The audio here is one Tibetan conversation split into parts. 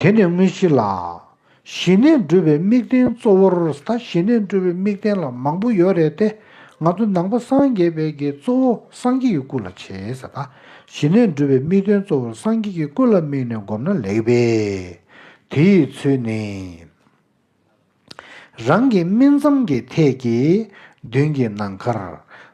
དེ་ནས་དངོས་གཞི་ལ། ཞི་གནས་འགྲུབ་པའི་དམིགས་རྟེན་གཙོ་བོར་ད་ཞི་གནས་འགྲུབ་པའི་དམིགས་རྟེན་ལ་མང་པོ་ཡོད་རེད་དེ། ང་ཚོ་ནང་པ་སངས་རྒྱས་པའི་གི་གཙོ་བོ་སངས་རྒྱས་ཀྱི་སྐུ་ལ་བྱེད། ད་ཞི་གནས་འགྲུབ་པའི་དམིགས་རྟེན་གཙོ་བོར་སངས་རྒྱས་ཀྱི་སྐུ་ལ་དམིགས་ནས་བསྒོམ་ན་ལེགས་པས། དེའི་ཚུལ་ནི། རང་གི་སྨིན་མཚམས་ཀྱི་ཐད་ཀྱི་མདུན་གྱི་ནམ་མཁར།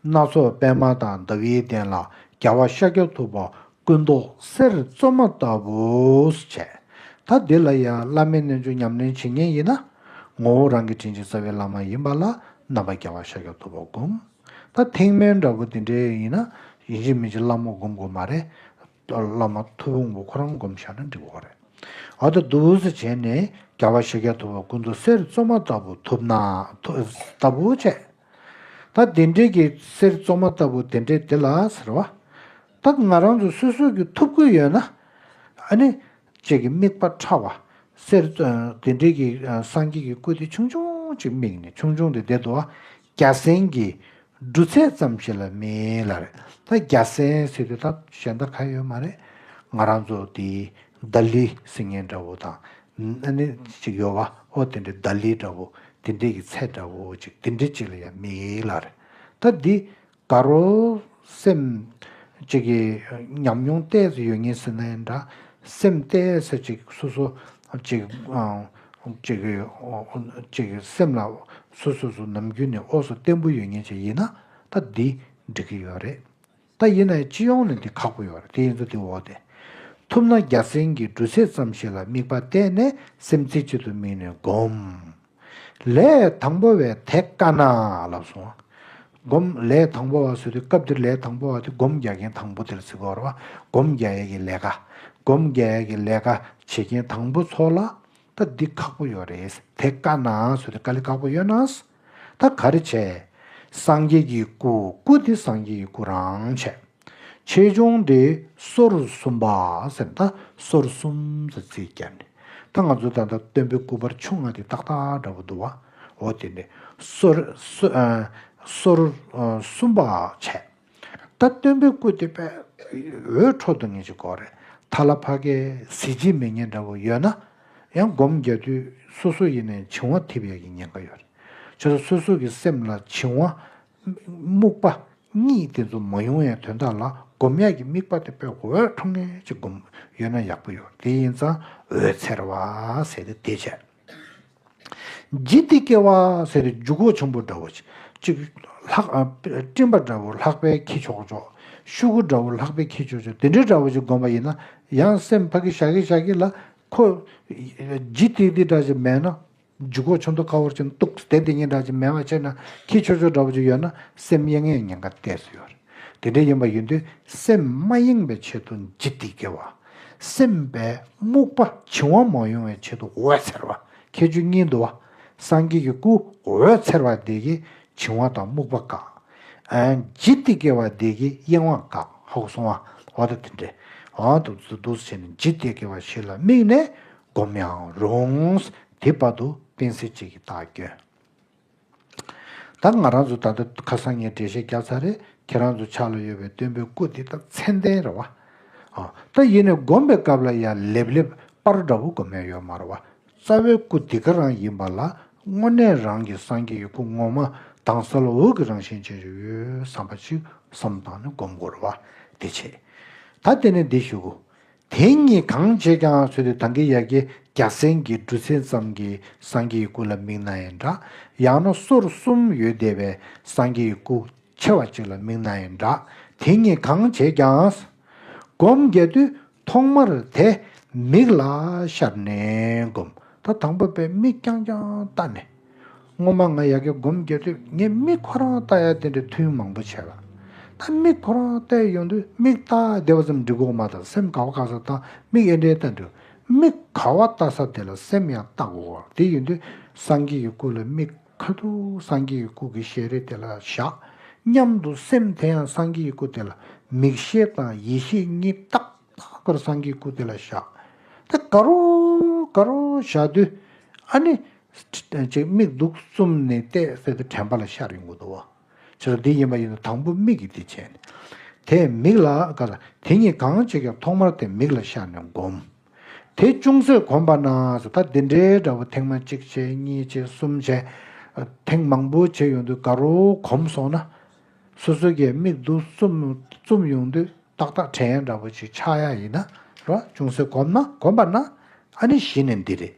སྣ་ཚོགས་པདྨ་དང་ཟླ་བའི་གདན་ལ་རྒྱལ་བ་ཤཱཀྱ་ཐུབ་པ་སྐུ་མདོག་གསེར་བཙོ་མ་ལྟ་བུས་བྱས། ད་འདི་ལ་ཡང་བླ་མའི་རྣལ་འབྱོར་ཉམས་ལེན་བྱེད་ངེས་ཡིན་ན། ངོ་བོ་རང་གི་དྲིན་ཅན་རྩ་བའི་བླ་མ་ཡིན་པ་ལ་རྣམ་པར་རྒྱལ་བ་ཤཱཀྱ་ཐུབ་པ་བསྒོམ། ད་ཐེག་དམན་འདྲ་བོ་འདི་འདྲའི་ཡིན་ན་ཡིན་གཅིག་མིན་གཅིག་བླ་མ་བསྒོམ་དགོས་མ་རེད། ཏོ་བླ་མ་ཐུ་བོ་ངོ་ཁོ་རང་བསྒོམ་བཞག་ན་འགྲིག་བ་རེད། ཨ་ཏོ་བསྡུ་བསུ་བྱས་ནས་རྒྱ་བ་ཤེས་རྒྱ་ཐུབ་པ་ཀུན་ཏུ་གསེར་བཙོ་མ་ལྟ་བུ་ཐུབ་ན་ལྟ་བུ་བྱས། ད་དེ་འདྲས་ཀྱི་གསེར་བཙོ་མ་ལྟ་བུ་དེ་འདྲས་དེ་ལ་ཟེར་བ། ད་ང་རང་ཚོ་སོ་སོ་གི་ཐུབ་ཀུན་ཡོད་ན། ཨ་ནི། ཅད་ཀྱི་དམིགས་པ་ཕྲ་བ། གསེར། དེ་འདྲིལ་གྱི་སངས་རྒྱས་ཀྱི་སྐུ་དེ་ཆུང་ཆུང་ཅིག་དམིགས་ནས་ཆུང་ཆུང་དེ་དེ་དུ་བ་བརྒྱ་སྲན་གྱི་འབྲུ་ཚད་ཙམ་ཞིག་ལ་མིན་ལ་རེད་ད་བརྒྱ་སྲན་ཟེར་དུས་ད་གཞན་ད་ག་ཡོད་མ་རེད། ང་རང་ཚོ་དེ་རྡ་ལི་སིང་ངེ་འདྲ་བོ་དང། ནི་ཅིག་ཡོད་བ་ཧོ་དེ་འདྲིལ་རྡ་ལི་འདྲ་བོ་དེ་འདྲིལ་གྱི་ཚད་འདྲ་བོ་ཅིག་དེ་འདྲིལ་ཅིག་ལ་ཡང་མིན་ལ་རེད་ད་འདི། དགའ་རོ། སེམས། གཅིག་གི། ཉམས་མྱོང་གཏད་སོ་ཡོད་ངེས་ཟེར་ན་ཡིན་འདྲ། སེམས་གཏད་ས་གཅིག་སོ་སོ། གཅིག། གཅིག་གི། གཅིག་གི་སེམས་ལ། སོ་སོ་སོ་ནམ་རྒྱུན་ནས་ཨོ་སོ་བརྟན་པོ་ཡོད་ངེས་ཅིག་ཡིན་ན། ད་འདི། འགྲིག་གི་ཡོད་རེད། ད་ཡིན་ན་སྤྱི་ཡོངས་ནས་འདི་ཁག་པོ་ཡོད་རེད་དེ་ཡིན་ཚོ་འདི་འོག་དེ། ཐུབ་ན་རྒྱ་སེང་གི་འབྲུ་ཚད་ཙམ་ཞིག་ལ་དམིགས་པ་གཏད་ནས་སེམས་རྩེ་གཅིག་ཏུ་དམིགས་ནས་སྒོམས། ལས་དང་པོ་བས་དེ་ཀ་ན་ལ་བཟུང། བསྒོམ། ལས་དང་པོ་བ་བཟོས་དུས་སྐབས་འདིར་ལས་དང་པོ་བ་དེ་སྒོམ་རྒྱག་མཁན་དང་པོ་དེར་ཚིག་གོ། སྒོམ་རྒྱག་ཡས་ཀྱི་ལས་ཀ། སྒོམ་རྒྱག་ཡས་ཀྱི་ལས་ཀ་བྱེད་མཁན་དང་པོ་ཚོ་ལ། ད་འདི་ཁག་པོ་ཡོད་རེད། དེ་ཀ་ན་བཟོས་དུས་ཀ་ལི་ཁག་པོ་ཡོད་ན། ད་ག་རེ་བྱས། སངས་རྒྱས་ཀྱི་སྐུ། སྐུ་དེ་སངས་རྒྱས་ཀྱི་སྐུ་རང་བྱས། ཆེ་ཆུང་དེ་སོར་གསུམ་པ་སེམས་ད་སོར་གསུམ་ཟེར་ཚིག་བསྐྱར་ནས་ད་ང་ཚོ་ད་ལྟ་སྟོན་པའི་སྐུ་པར་ཆུང་ང་དེ་ཏག་ཏག་འདྲ་པོ་འདུག་བ་འོ་དེ་ནས་སོར་སོར་གསུམ་པ་བྱས་ད་སྟོན་པའི་སྐུ་དེ་པས་འོད་འཕྲོ་འདུག་ཉིན་གཅིག་འགོར་རེད་ད་ལ་ཕ་གའི་གཟི་བརྗིད་མི་ཉན་འདྲ་པོ་ཡོད་ན་ཡང་སྒོམ་རྒྱག་དུས་སོ་སོ་ཡེ་ནས་བྱིང་བ་འཐིབ་ཡག་གི་ཉེན་ཁ་ཡོད་རེད་བྱས་ད་སོ་སོ་གི་སེམས་ལ་བྱིང་བ་རྨུགས་པ་གཉིས་དེ་ཚོ་མ་ཡོང་ཡང་དོན་དག་ལ་སྒོམ་ཡག་གི་དམིགས་པ་དེ་དཔེ་འོད་འཕྲོ་ངེས་ཅིག་སྒོམ་ཡོད་ན་ཡག་པོ་ཡོད་དེ་ཡིན་ཙང་འོད་འཚེར་བ་ཟེར་ཏེ་དེ་བྱས། ལྗིད་ལྟིག་སྐྱེ་བ་ཟེར་ཏེ་འཇུག་སྒོ་ཆེན་པོ་འདྲ་བོ་གཅིག། སྤྲིན་པ་འདྲ་བོ་ལྷག་པའི་ཁྱི་ཆོག་ཆོག། ཤུ་གུ་འདྲ་བོ་ལྷག་པའི་ཁྱི་ཆོག་ཆོག་དེ་འདྲའི་འདྲ་བོ་ཞིག་སྒོམ་པ་ཡིན་ན་ཡང་སེམས་ཕ་གི་ཞྭ་གི་ཞྭ་གི་ལ་ཁོ། ལྗིད་ལྟིག་ལྟིག་འདྲ་ཞིག་མེད་ན། འཇུག་གོ་ཆོ་འདོ་ཁ་བོར་ཅིང་སྟུག་སྟེ་དེ་ཉིད་འདྲ་ཅིང་མེད་པར་ཆད་ན་ཁྱི་ཆོ་ཆོ་འདྲ་བོ་ཅིག་ཡོད་ན་སེམས་གཡེང་ངེས་ཉེན་ཁ་གཏད་སོ་ཡོད། དེ་འདྲའི་ཡིན་པ་ཡིན་དུས་སེམས་མ་གཡེང་བའི་ཆེད་དུ་འཇིག་སྟེ་བརྒལ་བ། སེམས་པའི་རྨུགས་པ་བྱིང་བ་མ་ཡོང་བའི་ཆེད་དུ་འོད་འཚེར་བ་ཁྱད་ཆོས་གཉིས་འདུ་བ། སངས་རྒྱས་ཀྱི་སྐུ་འོད་འཚེར་བ་འདི་ཀྱིས་བྱིང་བ་དང་རྨུགས་པ་བཀག། འཇིག་སྟེ་བརྒལ་བ་འདི་ཀྱིས་གཡེང་བ་བཀག་ཧཱུྃ་གསུང་བ་འོ་ད་དེ་འདྲའི་འོ་ད་དུ་བཟོད་དུ་བཟོད་བྱས་ནས་འཇིག་སྟེ་བརྒལ་བ་ཞིག་ལ་དམིགས་ནས་བསྒོམ་ཡང་རུང། དེའི་བར་དུ་སྤེན་ཚེ་གཅིག་གིས་བདག་སྐྱོན། ད་ང་རང་ཚོ་ད་ལྟ་ཁ་སང་ངས་འགྲེལ་བཤད་རྒྱག་ཚར་རེད་ཁྱེད་རང་ཚོ་ཕྱག་ལ་ཡོད་པའི་སྟོན་པའི་སྐུ་འདི་ད་མཚན་ལྡན་རེད་བ། ད་ཡིན་ནས་བསྒོམ་པའི་སྐབས་ལ་ཡང་ལེབ་ལེབ་པར་འདྲ་བོ་བསྒོམ་ཡ་ཡོད་མ་རེད་བ། རྩ་བའི་སྐུ་འདི་ག་རང་ཡིན་པ་ལ་དངོས་གནས་རང་གི་སངས་རྒྱས་ཀྱི་སྐུ་ངོ་མ་དྭངས་གསལ་འོད་ཀྱི་རང་བཞིན་ཅན་ཞིག་ཡོད་བསམ་པ་ཅིག་བསམ་བཏང་ནས་བསྒོམ་དགོས་རེད་བ། དེ་བྱས། ད་དེ་ནས་འདི་ཞུ་གོ། དེ་གཉིས་གང་བྱེད་ཀྱང་བཟོད་དེ་དང་གི་ཡ་གི་རྒྱ་སེང་གི་སྦྲུལ་ཚན་ཙམ་གྱི་སངས་རྒྱས་སྐུ་ལ་མིག་ན་ཡི་འདྲ། ཡང་ན་སོར་གསུམ་ཡོད་བསྡད་པའི་སངས་རྒྱས་སྐུ་ཆེ་བ་ཅིག་ལ་མིག་ན་ཡི་འདྲ། དེ་གཉིས་གང་བྱེད་ཀྱང། སྒོམ་རྒྱ་དུས་ཐོག་མར་དེ་མིག་ལ་ཤར་ནས་བསྒོམ། ད་དང་པོ་པས་མིག་རྐྱང་རྐྱང་བལྟ་ནས། སྔོན་མ་ང་ཡ་གེ་སྒོམ་རྒྱབ་དུས་ངས་དམིགས་ཁོ་རང་བལྟ་ཡ་དེ་འདྲའི་ཐུན་མང་པོ་བྱས་ལ། ད་དམིགས་ཁོ་རང་བལྟས་ཡོང་དུས་དམིགས་བལྟ་བདེ་བ་ཙམ་འབྲི་གོ་མ་ཐག་སེམས་ག་བ་ག་ས་བལྟ་དམིགས་ཨེ་འདྲའི་བལྟ་འདུག་དམིགས་ག་བ་བལྟ་ས་དེ་ལ་སེམས་ཡང་བལྟ་གོ་དེ་ཡོང་དུས་སངས་རྒྱས་ཀྱི་སྐུ་ལ་དམིགས་ཁ་འདུག་སངས་རྒྱས་ཀྱི་སྐུ་གི་ཞལ་རས་དེ་ལ་བཞག་སྙམ་དུ་སེམས་དེ་ཡང་སངས་རྒྱས་ཀྱི་སྐུ་དེ་ལ་མིག་ཤེས་དང་ཡིད་ཤེས་གཉིས་ཏག་ཏག་གིར་སངས་རྒྱས་ཀྱི་སྐུ་དེ་ལ་བཞག་དེ་ག་རོ་ག་རོ་བཞག་དུས་ཨ་ནི། ཅེས་དམིགས་འདུག་གསུམ་ནི་གཏད་སོ་དེ་དྲན་པ་ལ་ཤར་ཡོང་གི་འདུག་བ། ཕྱིས་སུ་འདི་ཡིན་པ་ཡིན་ནོ་དང་པོ་མིག་གིས་དེ་བྱས་ནས། དེས་མིག་ལ་དགའ་ལ། དེ་གཉིས་གང་བྱེད་ཀྱང་ཐོག་མར་དེ་མིག་ལ་ཤར་ནས་བསྒོམ། དེ་ཅུང་ཟད་གོམས་པ་ན་ད་འདི་འདྲའི་འདྲ་བོ་ཐེངས་མ་གཅིག་བྱས་གཉིས་བྱས་གསུམ་བྱས། ཐེངས་མང་པོ་བྱས་ཡོང་དུས་དགའ་རོགས་གོམས་སོང་ན། སོ་སོའི་གད་མིག་ཏུ་བཙུམ་ཡོང་དུས་ཏག་ཏག་བྲན་ཡང་འདྲ་བོ་ཞིག་ཆགས་ཡ་ཡིན་ན་རོ། ཅུང་ཟད་གོམས་ན་གོམས་པ་ན་ཨ་ནི་གཞི་ནས་འདི་རེད།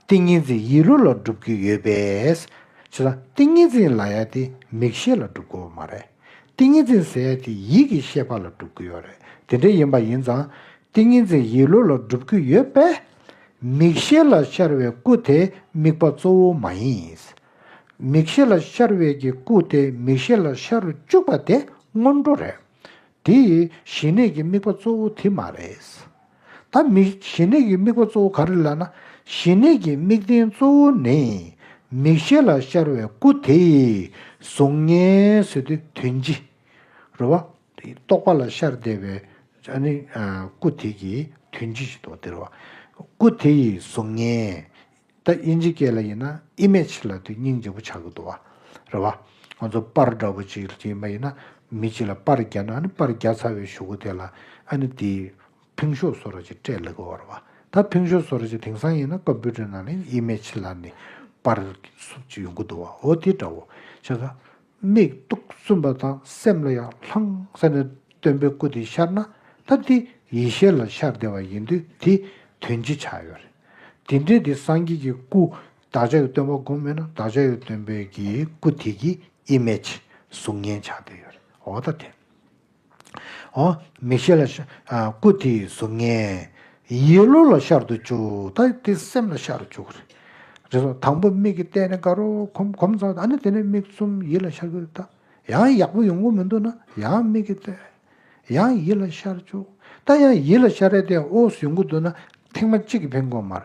ཏིང་ངེ་འཛིན་ཡིད་བློ་ལ་སྒྲུབ་ཀྱི་ཡོད་པས། ཆུ་དང་ཏིང་ངེ་འཛིན་ལ་ཡ་དེ་མིག་ཤེས་ལ་སྒྲུབ་དགོས་པ་མ་རེད། ཏིང་ངེ་འཛིན་ཟེར་ཡ་དེ་ཡིད་ཀྱི་ཤེས་པ་ལ་སྒྲུབ་ཀྱི་ཡོད་རེད་དེ་འདྲ་ཡིན་པ་ཡིན་ཙང། ཏིང་ངེ་འཛིན་ཡིད་བློ་ལ་སྒྲུབ་ཀྱི་ཡོད་པས། མིག་ཤེས་ལ་ཤར་བའི་སྐུ་དེ་དམིགས་པ་གཙོ་བོ་མ་ཡིན། མིག་ཤེས་ལ་ཤར་བས་ཀྱི་སྐུ་དེ་མིག་ཤེས་ལ་ཤར་རུ་བཅུག་པ་དེ་སྔོན་འགྲོ་རེད། དེ་ཡི་ཞི་གནས་ཀྱི་དམིགས་པ་གཙོ་བོ་དེ་མ་རེད། ད་མིག་ཞི་གནས་ཀྱི་དམིགས་པ་གཙོ་བོ་ག་རེད་ལབ་ན། ཞི་གནས་ཀྱི་དམིགས་རྟེན་གཙོ་བོ་ནི་མིག་ཤེས་ལ་ཤར་བའི་སྐུ་དེ་ཡིས་གཟུགས་བརྙན་བཟོས་ཏེ་དོན་ཅི། རེད་བ། རྟོག་པ་ལ་ཤར་བསྡད་པའི་སྐུ་དེ་ཀྱིས་དོན་ཅི་ཞིག་རྟོགས་ཏེ་རེད་བ། སྐུ་དེ་ཡིས་གཟུགས་བརྙན། ད་དབྱིན་ཇི་སྐད་ལ་ཡིན་ན image ལ་དུས་སྙིང་རྗེ་པོ་ཆགས་ཀྱི་འདུག་བ། རེད་བ། ང་ཚོ་དཔར་འདྲ་པོ་ཅིག་གྱིས་མ་ཡིན་ན་མི་གཅིག་ལ་དཔར་རྒྱག་ན་ཨ་ནི་དཔར་རྒྱག་ཚར་བའི་ཞུ་གུ་དེ་ལ་ཨ་ནི་དེས་ཕིང་ཤོ་བཟོ་ར་ཅིག་སྤྲད་ལེགས་བ་རེད་བ། ད་ཕིང་ཤོ་བཟོ་ར་ཅིག་དེང་སང་ཡིན་ན་ཀོམ་པུའུ་ཏར་ནང་ལ image ལ་ནི་དཔར་སུབ་ཅིག་ཡོང་གི་འདུག་བ་འོ་དེ་འདྲ་བོ། ཆ་ག། མིག་སྟོང་གསུམ་པ་དང་སེམས་ལ་ཡང་ལྷང་ས་ནས་སྟོན་པའི་སྐུ་དེ་ཤར་ན་ཐབས་དེ་ཡེ་ཤེས་ལ་ཤར་བདེ་བ་ཡིན་དུས་དེ་དོན་ཅི་ཆགས་ཡོད་རེད། དེ་འདྲའི་དེ་སངས་རྒྱས་ཀྱི་སྐུ་བདག་ཅག་གི་སྟོན་པ་སྒོམ་མེད་ན་བདག་ཅག་གི་སྟོན་པའི་གི་སྐུ་དེ་གི image གཟུགས་བརྙན་ཆགས་བསྡད་ཡོད་རེད་འོ་ད་དེ། མིག་ཤེས་ལ་སྐུ་དེའི་གཟུགས་བརྙན། ཡིད་བློ་ལ་ཤར་དུ་བཅུག་ད་དེ་སེམས་ལ་ཤར་བཅུག་གོ། དང་པོ་མིག་གིས་བལྟས་ནས་དགའ་རོགས་གོམས་གོམས་ཚར་ཨ་ནི་དེ་ནས་མིག་བཙུམ་ཡིད་ལ་ཤར་བཅུག་ད། ཡང་ཡག་པོ་ཡོང་གི་མི་འདུག་ན་ཡང་མིག་གིས་བལྟས། ཡང་ཡིད་ལ་ཤར་བཅུག་ད་ཡང་ཡིད་ལ་ཤར་རེད་དེ་ཨོ་ཟོས་གི་འདུག་ན་ཐེངས་མ་གཅིག་གི་ཕན་གོ་མར།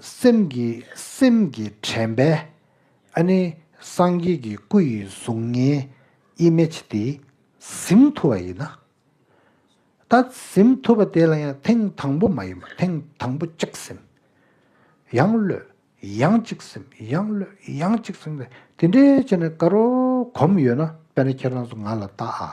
སེམས་ཀྱི་སེམས་ཀྱི་དྲན་པས་ཨ་ནི་སངས་རྒྱས་ཀྱི་སྐུ་ཡི་གཟུགས་བརྙན image དེ་གཟིམས་ཐུབ་པ་ཡིན་ན། ད་གཟིམས་ཐུབ་པ་དེ་ལ་ཡང་ཐེངས་དང་པོ་མ་ཡིན་པར་ཐེངས་དང་པོ་གཅིག་གཟིམས། ཡང་གློད། ཡང་གཅིག་གཟིམས་ཡང་གློད་ཡང་གཅིག་གཟིམས། དེ་འདྲའི་བྱས་ནས་དགའ་རོགས་གོམས་ཡོད་ན་དཔེར་ན་ཁྱེད་རང་ཚོ་ང་ལ་བལྟ་ཨ།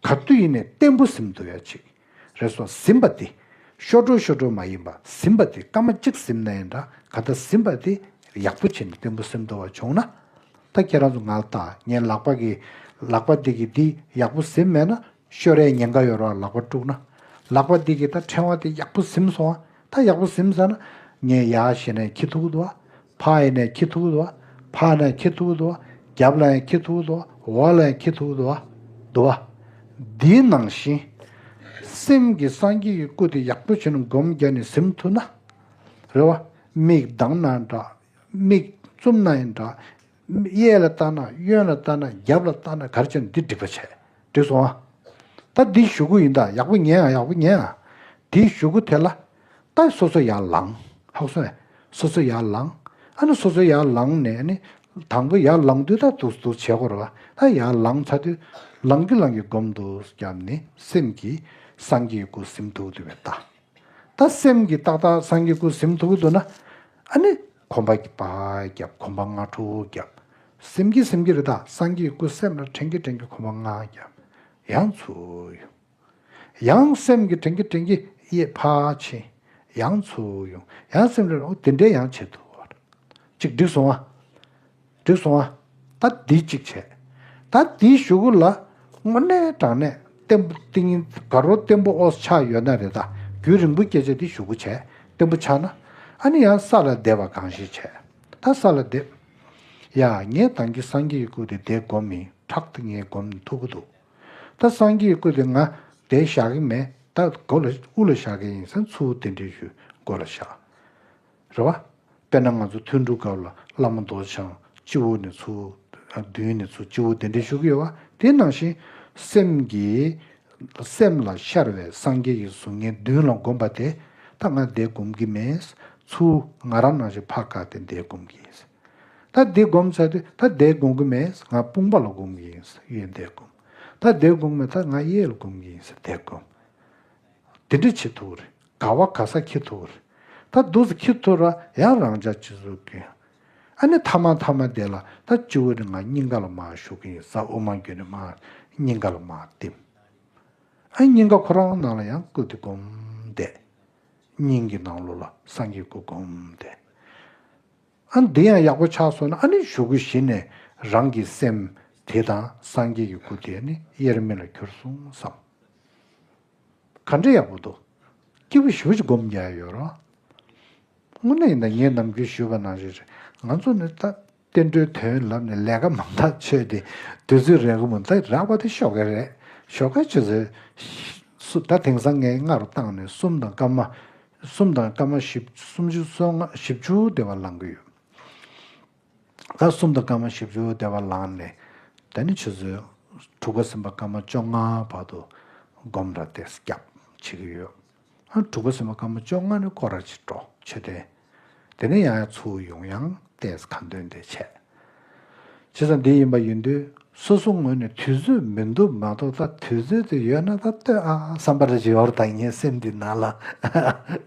གར་དུ་ཡེ་ནས་བརྟན་པོ་གཟིམ་དུ་ཡ་ཅིག། རེ་སོགས་གཟིམ་པ་འདི། ཤོར་འགྲོ་ཤོར་འགྲོ་མ་ཡིན་པ་གཟིམ་པ་འདི་སྐར་མ་གཅིག་གཟིམ་ན་ཡང་འདྲ་ག་ལྟ་གཟིམ་པ་འདི་ཡག་པོ་བྱས་ནས་བརྟན་པོ་གཟིམ་དུ་བ་བྱུང་ན། ད་ཁྱེད་རང་ཚོ་ང་ལ་བལྟ་ངའི་ལག་པ་གི། ལག་པ་འདི་གི་འདི་ཡག་པོ་གཟིམ་མེད་ན་ཤོར་ཡས་ཉེན་ཁ་ཡོད་རོགས་ལག་པ་དཀྲུགས་ན། ལག་པ་འདི་གི་ད་ཕྲེང་བ་འདི་ཡག་པོ་གཟིམ་སོང་ང་ད་ཡག་པོ་ཟིན་ས་ན་ངས་ཡ་ཞེ་ནས་ཁྱི་ཐུག་ཏུ་ཕ་ཡེ་ནས་ཁྱི་ཐུག་ཏུ་ཕ་ནས་ཁྱི་ཐུག་ཏུ་རྒྱབ་ལ་ཡང་ཁྱི་ཐུག་ཏུ་འོག་ལ་ཡང་ཁྱི་ཐུག་ཏུ་འདུག་བ། འདིའི་ནང་བཞིན། སེམས་ཀྱི་སངས་རྒྱས་ཀྱི་སྐུ་དེ་ཡག་པོ་བྱས་ནས་སྒོམ་རྒྱ་ནས་ཟིན་ཐུག་ན་རེ་བ། མིག་གདངས་ན་འདྲ་མིག་བཙུམ་ན་ཡང་འདྲ་གཡས་ལ་བལྟ་ན་གཡོན་ལ་བལྟ་ན་རྒྱབ་ལ་བལྟ་ན་གར་ཅིར་འདི་སྒྲིག་པ་བྱས། སྒྲིག་སོང་ཨ། ད་འདི་བཞུགས་སྒོ་ཡིན་ད་ཡག་པོ་ཉན་ཨ་ཡག་པོ་ཉན་ཨ། འདི་བཞུགས་སྒོ་དེ་ལ། ད་སོ་སོ་ཡར་ལངས། ཧཱུྃ་སོ་ཨེ། སོ་སོ་ཡར་ལངས། ཨ་ནི་སོ་སོ་ཡར་ལངས་ནས་ཨ་ནི། དང་པོ་ཡར་ལངས་དུས་ད་དུ་དུ་བྱེད་གོར་བ་ཨ་ཡར་ལངས་ཚར་དུས། ལངས་རྒྱུ་ལངས་རྒྱུ་བསྒོམ་དུ་བརྒྱབ་ནི་སེམས་ཀྱིས་སངས་རྒྱས་སྐུ་གཟིམ་ཐུགས་དུ་བས་བལྟ། ད་སེམས་ཀྱིས་ཏག་ཏག་སངས་རྒྱས་སྐུ་གཟིམ་ཐུགས་དུ་ན། ཨ་ནི། གོམ་པ་བརྒྱབ་བརྒྱབ་གོམ་པ་ལྔ་དྲུག་བརྒྱབ། སེམས་ཀྱི་སེམས་ཀྱི་རི་དྭགས་སངས་རྒྱས་སྐུ་སེམས་ལ་དྲན་གྱི་དྲན་གྱི་གོམ་པ་ལྔ་བརྒྱབ། ཡང་ཚུར་ཡོང། ཡང་སེམས་ཀྱི་དྲན་གྱི་དྲན་གྱི་གཡས་ཕ་ཕྱིན། ཡང་ཚུར་ཡོང། ཡང་སེམས་ཀྱི་དེ་འདྲའི་ཡང་བྱེད་དུ་བ་ཅིག་འགྲིག་སོང་ཨ། འདི་སོང་ཨ། ད་འདི་གཅིག་བྱས། ད་འདི་གཞུག་གུ་ལ། སྔོ་སྣའི་བྲག་ནས་བརྟན་པོ་ཏིང་ངེ་འཛག་རོ་བརྟན་པོ་ཨོ་ཆགས་ཡོད་ན་རེ་ད་རྒྱུན་རིང་པོ་སྐྱེ་བྱ་འདི་གཞུག་གུ་བྱས་བརྟན་པོ་ཆགས་ན། ཨ་ནི་ཡང་ས་ལ་འདེབས་པ་གང་ཞིག་བྱས། ད་ས་ལ་འདེབས། ཡ། ངས་དང་གི་སངས་རྒྱས་ཀྱི་སྐུ་དེ་འདས་བསྒོམ་མིན་ཕྲག་ཏུ་ངས་བསྒོམ་ཐུབ་ཀྱི་འདུག། ད་སངས་རྒྱས་ཀྱི་སྐུ་དེ་ང་འདས་བཞག་གི་མེད་ད་སྒོ་ལ་དབུ་ལ་བཞག་གི་ཡིན་སེམས་ཚུལ་དེ་འདྲའི་ཞུ་སྒོ་ལ་བཞག། རེད་བ། དཔེར་ན་ང་ཚོ་ཐུན་དྲུག་སྐབས་ལ་བླ་མ་མདོ་སྡེ་འཆང་སྤྱི་བོ་ནས་ཚུར་བདུན་ནས་ཚུར་སྤྱི་བོ་གདན་འདྲེན་ཞུ་གི་ཡོད་བ་དེ་ནང་བཞིན། སེམས་ཀྱི། སེམས་ལ་ཤར་བའི་སངས་རྒྱས་ཀྱི་གཟུགས་བརྙན་བདུན་ལ་བསྒོམ་པ་དེ་ད་ང་འདས་བསྒོམ་གི་མེད། ཚུར་ང་རང་ནང་བཞིན་ཕག་བཀག་སྟེ་འདས་བསྒོམ་གི་ཡིན། ད་འདི་བསྒོམ་ཚར་དུས་ད་འདས་བསྒོམ་གི་མེད་ང་དཔུང་པ་ལ་བསྒོམ་གི་ཡིན་གཡས་འདས་བསྒོམ། ད་འདས་བསྒོམ་གི་མེད་ད་ང་གཡས་ལ་བསྒོམ་གི་ཡིན་འདས་བསྒོམ། དེ་འདྲ་བྱེད་ཐུབ་རེད་དགའ་བ་ག་ས་ཁྱི་ཐུ་རེད། ད་འདུག་ཟེར་ཁྱི་ཐུ་ར་ཡང་རང་ཅག་སྤྱི་ཟུར་གི། ཨ་ནི་ཐ་མ་ཐ་མ་བསྡད་ལ་ད་སྤྱི་བོ་ནི་ང་སྙིང་ག་ལ་མ་ཞུགས་ཀྱི་ཡིན་ས་དབུ་མ་འགྱོད་ནི་མ་སྙིང་ག་ལ་མ་བསྟིམ། ཨ་སྙིང་ག་ཁོ་རང་ནང་ལ་ཡང་བཀུག་སྟེ་སྒོམ་བསྡད། སྙིང་གི་ནང་ལོགས་ལ་སངས་རྒྱས་སྐུ་སྒོམ་བསྡད། ཨ་འདི་ཡང་ཡག་པོ་ཆགས་སོང་ན་ཨ་ནི་གཞུག་གུ་གཞི་ནས་རང་གི་སེམས་དེ་དང་སངས་རྒྱས་ཀྱི་སྐུ་དེ་ནི་དབྱེར་མེད་ལ་གྱུར་སོང་བསམ། ག་འདྲ་ཡག་པོ་འདུག། སྐྱིད་པོ་ཞུ་ཅི་སྒོམ་རྒྱག་ཡོད་རོགས། དངོས་གནས་ཡིན་ན་ངས་ནམ་རྒྱུན་ཞུས་པ་ན་རེད་རེད། ང་ཚོ་ནི་བསྟན་འགྲོའི་དོན་ལབ་ནས་ལས་ཀ་མང་ཐག་ཆོད་དེ་དུས་ཚོད་རེག་མོ་འདི་རག་པ་དེ་ཤོག་དཀར་རེད། ཤོག་དཀར་ཆུ་ཚོད། ད་དེང་སང་ངའི་སྔ་རུ་བཏང་ནས་གསུམ་དང་སྐར་མ། གསུམ་དང་སྐར་མ་བཞི། སུམ་ཅུ་སོ་ལྔ་བཞི་བཅུ་དེ་བ་ལང་གི་ཡོད། ལྔ་གསུམ་དང་སྐར་མ་བཞི་བཅུ་བདེ་བར་ལངས་ནས་ད་ནི་ཆུ་ཚོད་དྲུག་པ་ཟིན་པ་སྐར་མ་བཅོ་ལྔ་བར་དུ་སྒོམ་ར་སྟེ་སྐྱབས་བྱེད་ཀྱི་ཡོད། ཨ་དྲུག་པ་ཟིན་པ་སྐར་མ་བཅོ་ལྔ་ནི་སྐོར་ར་ཆེ་འགྲོ་ཆོས་ལྡན། དེ་ནས་ཡང་ཡང་ཚུར་ཡོང་ཡང་ལྟས་གང་འདོད་དེ་བྱས། བྱས་ཙང་འདི་ཡིན་པ་ཡིན་དུས་སོ་སོ་ངོས་ནས་དུས་ཚོད་མི་འདུག་མ་གཏོགས་ད་དུས་ཚོད་དེ་ཡོད་ན་ད་ལྟོས་ཨང་བསམ་པར་བྱེད་འོར་ད་ངའི་སེམས་འདི་ནང་ལ་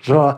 རོ།